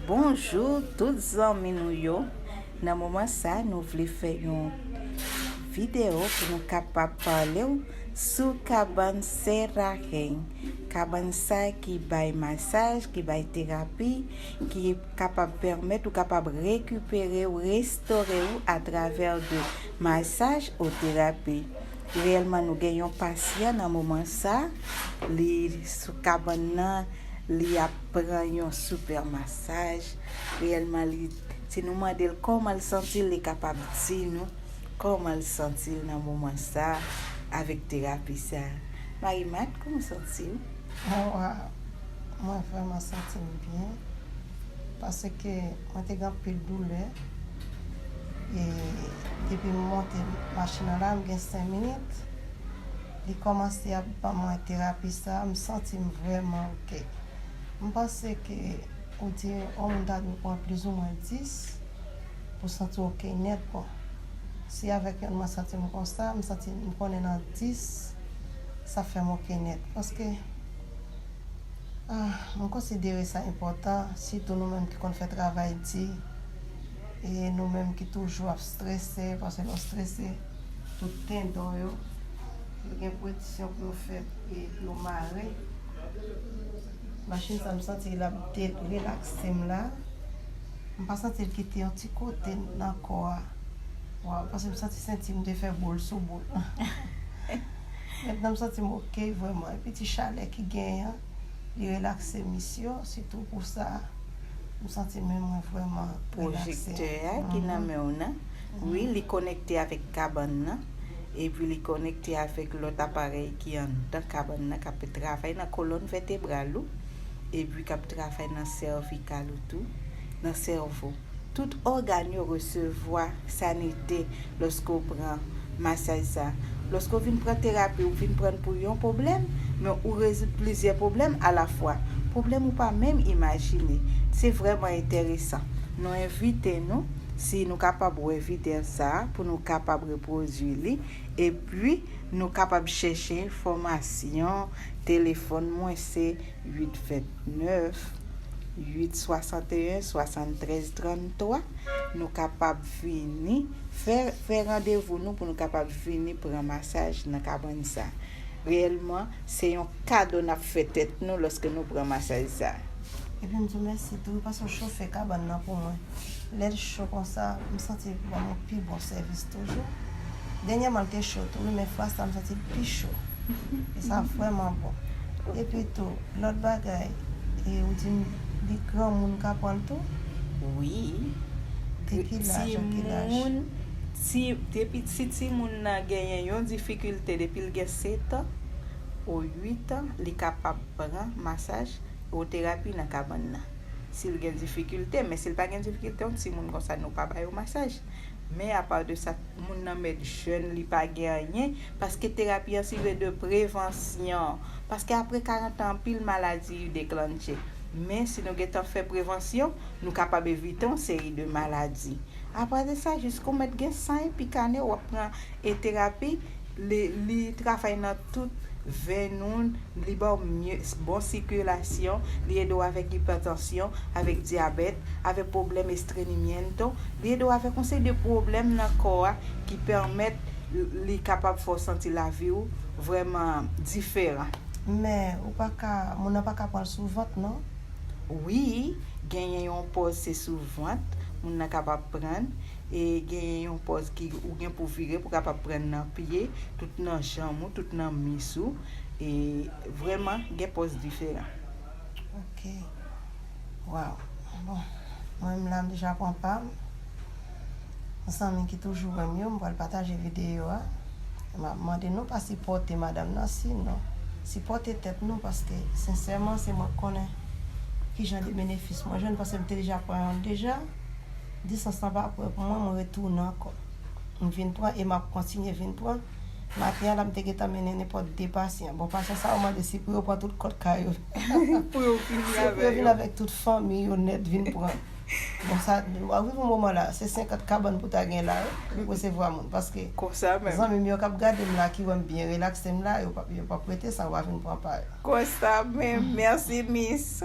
Bonjou tout zanmi nou yo Nan moman sa nou vle fè yon video pou nou kapab pale ou sou kabann Sera Heng Kabann sa ki bay masaj, ki bay terapi, ki kapab pèmèt ou kapab rekipere ou, restore ou atravè de masaj ou terapi Reyèlman nou gen yon pasyan nan moman sa, li sou kabann nan, li ap pran yon super masaj, reyèlman li, si nou mande l kòman l santi l, li kapab di nou kòman l santi l nan moman sa avèk terapi sa. Marie-Marthe, kòman w santi w? Mwen vrèman santi m byen. Paske mwen te gen anpil doulè e depi m monte machin nan la m gen 5 minit li kòmanse ap ban mwen terapi sa a m santi m vrèman ok. M panse ke ou di yon moun ta dwe pran plizoumwen 10 pou w santi w ok nèt bon. Si avèk yonn mwen santi m konsa, m santi m konnen nan 10 sa fè m ok nèt paske. Mwen konsidere sa enpòtan, sitou nou menm ki konn fè travay di, e nou menm ki toujou ap strese, paske lè w strese, tout tendon yo, yo gen pwediksyon pou yo fè, e pou yo mare. Machin sa m santi l ap relakse m la, m pa santi l kite yon ti kote nan kò a, paske m santi senti m te fè boul sou boul. Mèt nan m santi m ok vrèman epi ti chalè ki genyen an li relakse mis yo sitou pou sa m santi men mwen vrèman relakse. Projektè a ki nan men w nan wi li konekte avèk kabann nan epi li konekte avèk lòt aparèy ki anndan kabann nan k ap travay nan kolòn vètebral ou epi k ap travay nan sèvikal ou tou nan sèvo. Tout ògàn yo resevwa sanite lòske w pran masaj sa. Lòske w vin pran terapi, ou vin pran l pou yon pwoblèm, men ou rezoud plizyè pwoblèm alafwa. Pwoblèm ou pa menm imajine. Se vrèman enteresan. Nou envite nou, si nou kapab wè video sa, pou nou kapab repwodui li, epi nou kapab chèche enfòmasyon, telefòn mwen se. 8 29 8 61 73 33 nou kapab vini fè fè randevou nou pou nou kapab vini pran masaj nan kabann sa reyèlman se yon kado nap fè tèt nou lòske nou pran masaj sa. Epi m di w mèsi tou paske w chofe kabann nan pou mwen. Lè l cho konsa, m santi l banm yon pi bon sèvis toujou. Dènyèman l te cho tou wi men fwa sa m santi l pi cho e sa vrèman bon. Epi tou lòt bagay e ou di m li granmoun ka pran l tou? Wi. De ki laj a ki laj? Timoun, ti, depi si timoun nan genyen yon difikilte depi l gen setan o uitan li kapab pran masaj o terapi nan kabann nan. Si l gen difikilte men si l pa gen difikilte yon timoun konsa nou pa ba yo masaj. Men apa de sa moun nan mèt jèn li pa gen anyen paske terapi an sive de prevansyon paske apre 40 an anpil maladi u deklannche men si nou gentan fè prevansyon nou kapab evite yon seri de maladi apa de sa jis kou mèt gen san epi kane wap pran e terapi Li travay nan tout venn ou, li ba w mye, bon sikilasyon, li ede w avèk ipètansyon, avèk dyabèt, avèk pwoblèm estrenimiento, li ede w avèk yon seri de pwoblèm nan kò a ki pèmèt li kapab fè w santi lavi w vrèman diferan. Men, ou pa ka, moun nan pa ka pran l sou vant non. Wi, genyen yon pòz se sou vant moun nan kapab pran. e genyen yon pòz ki ou gen pou vire pou kapab pran nan pye, tout nan janm ou, tout nan mis ou, e vreman gen pòz diferan. Ok, waw, bon, mwen menm la m deja pran pam, pou zanmi ki toujou wèm yo, m pral pataje videyo a, e map mande nou pa sipòte madam nan si non, sipòte tèt nou paske sensèman se mwen k konnen kijan de benefis mwen jwenn paske m te deja pran yon l deja. Distans lan pa pran pou mwen, mwen retounen ankò. M vin pran e m ap kontinye vin pran. Maten an la, m te gentan mennen nenpòt de pasyan. Bon, pasyan sa yo mande si pou yo pran tout kòt kay yo. Pou yo vini avè yo. Se pou yo vini avèk tout fanmi yo nèt vin pran. Bon, sa, w ap rive yon moman la, se senkant kabann pou ta gen la wi, pou resevwa moun. Paske, zanmi m yo k ap gade m la, ki wè m byen relakse m la, yo p ap prete san, yo va vin pran pa yo. Konsa menm. Mèsi, mis.